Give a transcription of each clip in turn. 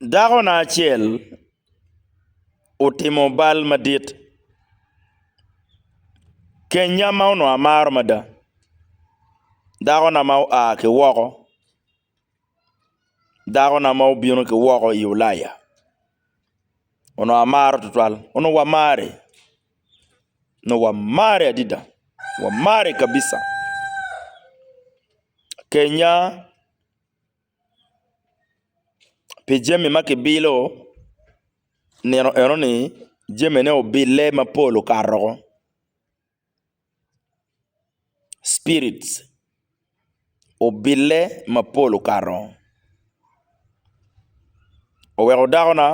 Dakona acel otimo bal madit. Kenya ma onongo amaro mada, dakona ma oa ki woko, dakona ma obino ki woko i Ulaya onongo amaro tutwal, onongo wamare nongo wamare adada wamare kabija kenya pi jami ma kibilo nino eno ni jamine obille mapol okato woko. spirits obille mapol okato oweko dako na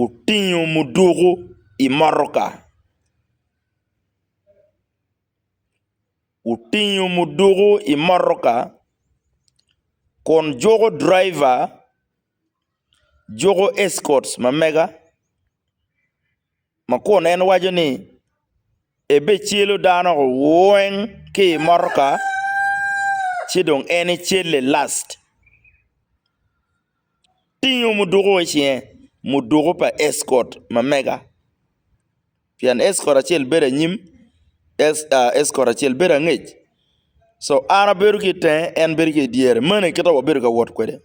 otingo muduku i motoka otingo muduku i motoka kun juko driver juko escorts ma mega. Ma kun en waco ni, Ebecelo dano weng ki i motoka, ci dong en ecelle last. Tingo muduku i cinge, muduku pa Escort ma mega. Pien Escort acel bedo anyim, Escort acel bedo angec. So an abedo ki i tenge, en bedo ki i dyere. Meno aye kit ma wabedo ka wot kwede.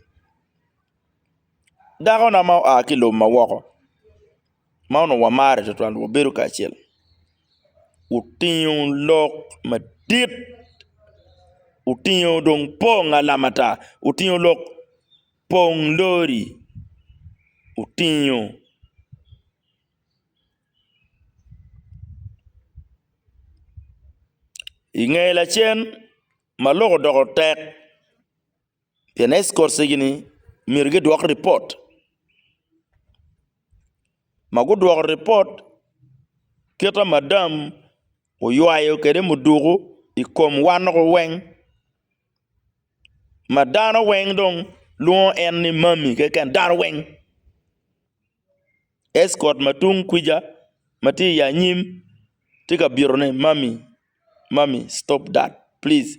Dakona ma oa ki i lobo ma woko. ma onongo wamare tutwal wabedo kacel otingo lok madit otingo dong pong alamata otingo lok pong lori otingo inge lacen ma lok odoko tek Pien escortsgi ni myero gidwok ripot. Ma gudwoko ripot kite ma madam oywayo kwede muduku i kom wan loko weng ma dano weng dong lwongo en ni mami keken dano weng escort ma tung kwija ma tye i anyim tye ka byelo ni mami mami stop that please.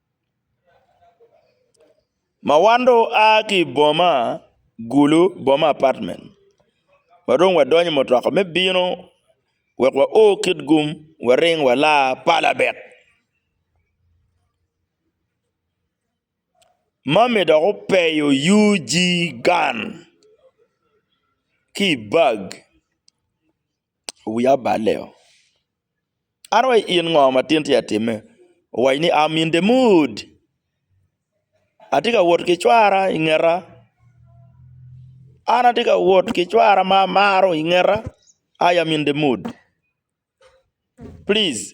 Ma wan dong waa ki i boma gulu boma apatment ma dong wadonyo i mutoka me bino wek wa o kit gum waring wala palabit ma mi dok opeyo UG gang ki i bag. wiya oballe o. An wa in ngo ma tin tye ka timme? Owaco ni am in the mood atye ka wot ki cwara i ngeta an atye ka wot ki cwara ma amaro i ngeta I am in the mood please.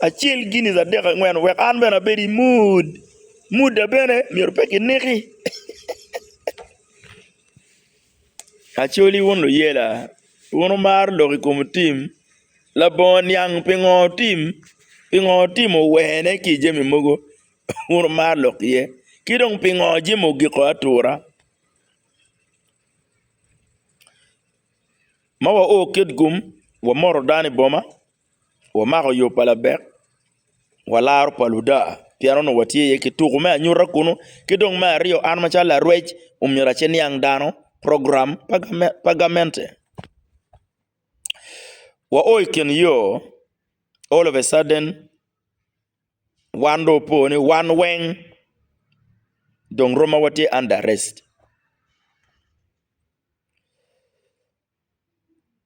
acel giniz adek angwen wek an bene abed i mood mood na bene myero pe ki niki Acholi wun luyela wun wumaro lok i kom tim labongo niang pingo tim pingo tim owene ki jami mogo wun wumaro lok iye ki dong pingo jami ogiko atura ma wa o kitgum wamoto dano i boma Wamako yo pa labek, walaro pa luda pien onongo watye iye ki tuku me anyuta kunu. Ki dong me aryo an macalo larwec omyero aciniang dano program pa gamente. Wa o i kin yo all of a sudden wan dong opo ni wan weng dong romo watye under arrest.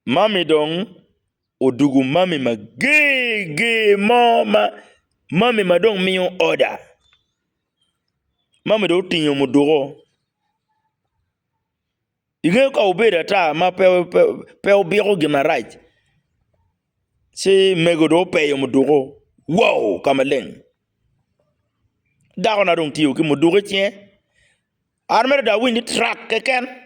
Mami dong odugu mami mager ger mo ma mami ma dong miyo oda mami dong otingo muduko ingeyo ka obedo ata ma pe obiko gin marac ci mego dong opeyo muduko wow ka maleng dako na dong tye ki muduko icinge an mere dong awiny ni trak keken.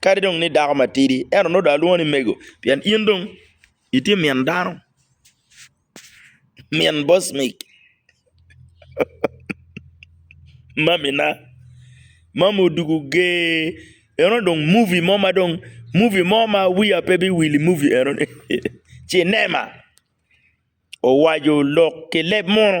kadi dong ni idako matidi ento nongo dong alwongo ni mego pien in dong itye min dano min boss mic mamina mami odwogo ger eno dong muvi mo ma dong muvi mo ma wiya pe biwil i muvi enoni cinema owaco lok ki leb munu.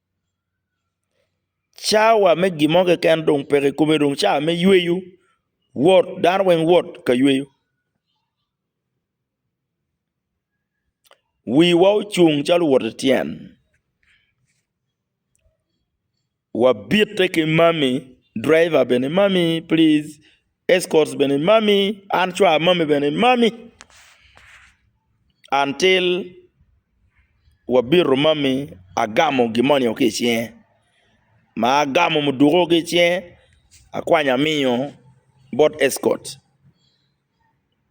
Cawa me gin mo keken dong peke i kome dong cawa me yweyo wot dano weng wot ka yweyo wiwa ocung calo owoti tyen wabite ki mami driver bene mami pliz. Escorts bene imami, an cwar amami bene imami, until wabito mami agamo gin moni ki i cinge ma agamo muduku ki i cinge akwanyo amiyo bot escort,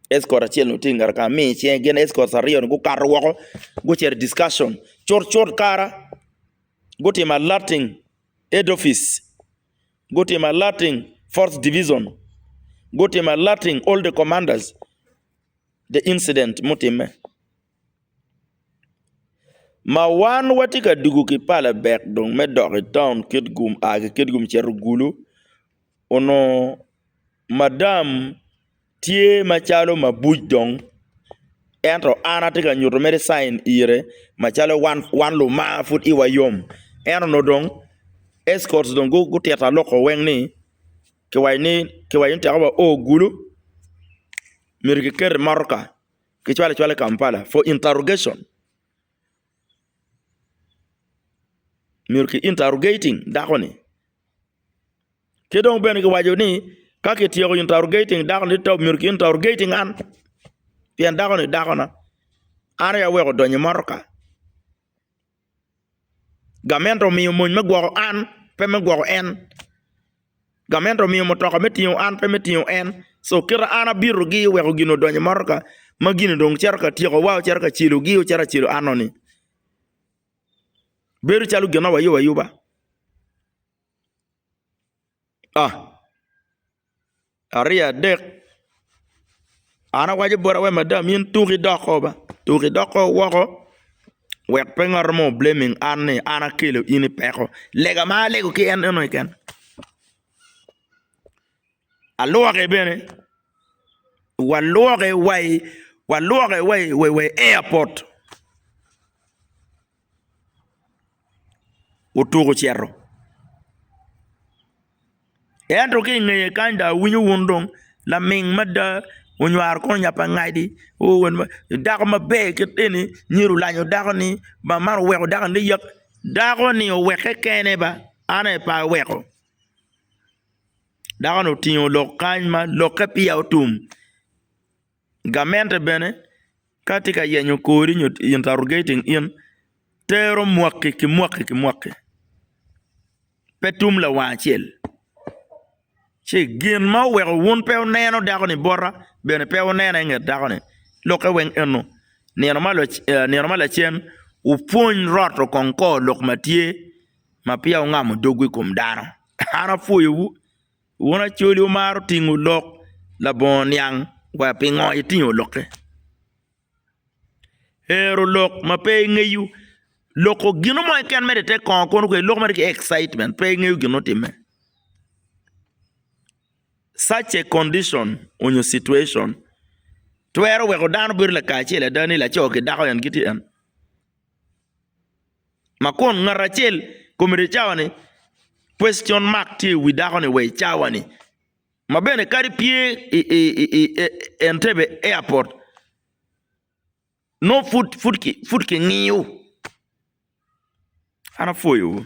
escort acel tye ngete kenyo amiyo i cinge gin escorts aryo ni gukato woko gucito i discussion cut cut kara gutimo alerting head office. Gutimo alerting Fourth Division, gutimo alerting all the commanders the incident mutimme. Ma wan watye ka dugu ki Palebek dong me dok i taun Kitgum, a ki Kitgum cito Gulu, onongo Madam tye macalo mabuc dong ento an atye ka nyuto mere cain ire macalo wan luma pud i wa yom ento nongo dong escorts dong gutito aloko weng ni kiwaco ni mutoka wa o gulu myero kiket i motoka kicwal acwala i Kampala for interrogation myero ki interrogating dako ni. Ki dong bene giwaco ni, Ka kityeko interrogating dako-ni, to myero ki interrogating an, pien dako-ni dakona. An aye aweko odonyo i motoka. Gamente omiyo mony me gwoko an, pe me gwoko en. Gamente omiyo mutoka me tingo an, pe me tingo en. Co kite an abitogi oweko gin-ni odonyo i motoka, ma gin-ni dong cito ka tyekowa, ocito ka celogi, ocito ka celo anoni. Bedo calo gin ma wayobayuba. Aryo adek an awaco boti awaci madam in tuk idok o ba tuk idok o woko wek pe ngat mo obleming an ni an akelo in i peko lega ma alego ki en eno keken alwoke bene walwoke wa i airport. otuk ocito ento ki ingeye kany dong awinyo wun dong laming mada onywaro kong nyapangadi dako maber kit eni myero olanyo dako ni ba man oweko dako ni yat dako ni oweke kene ba an aye pe aweko dako ni otingo lok kany ma lokke peya otum. Gamente bene ka tye ka yenyo kori nyo interrogating in, tero mwaki ki mwaki ki mwaki, pe tum lawang acel. Ci gin ma oweko wun pe wuneno dako-ni bota bene pe wunene i nget dako-ni, lokke weng eno. Nino ma lacen wupwony roto kong kor lok ma tye ma peya wungamo dogwu i kom dano. An apwoyowu. Wun Acholi wumaro tingo lok labongo niang wa pingo itingo lokke? Hero lok ma pe ingeyo loko gino mo keken mere i te kongo kono kwede loko mere ki excitement pe ingeyo gin ma otimme such a condition onyo situation twero weko dano bedo lakacel ada ni laco ki dako en gitye en. Ma kun ngat acel kome tye cawa ni, Question mark tye i wi dako ni wa i cawa ni. Ma bene kadi pye i Entebbe airport nongo pud ki ngiyo. An apwoyo wu.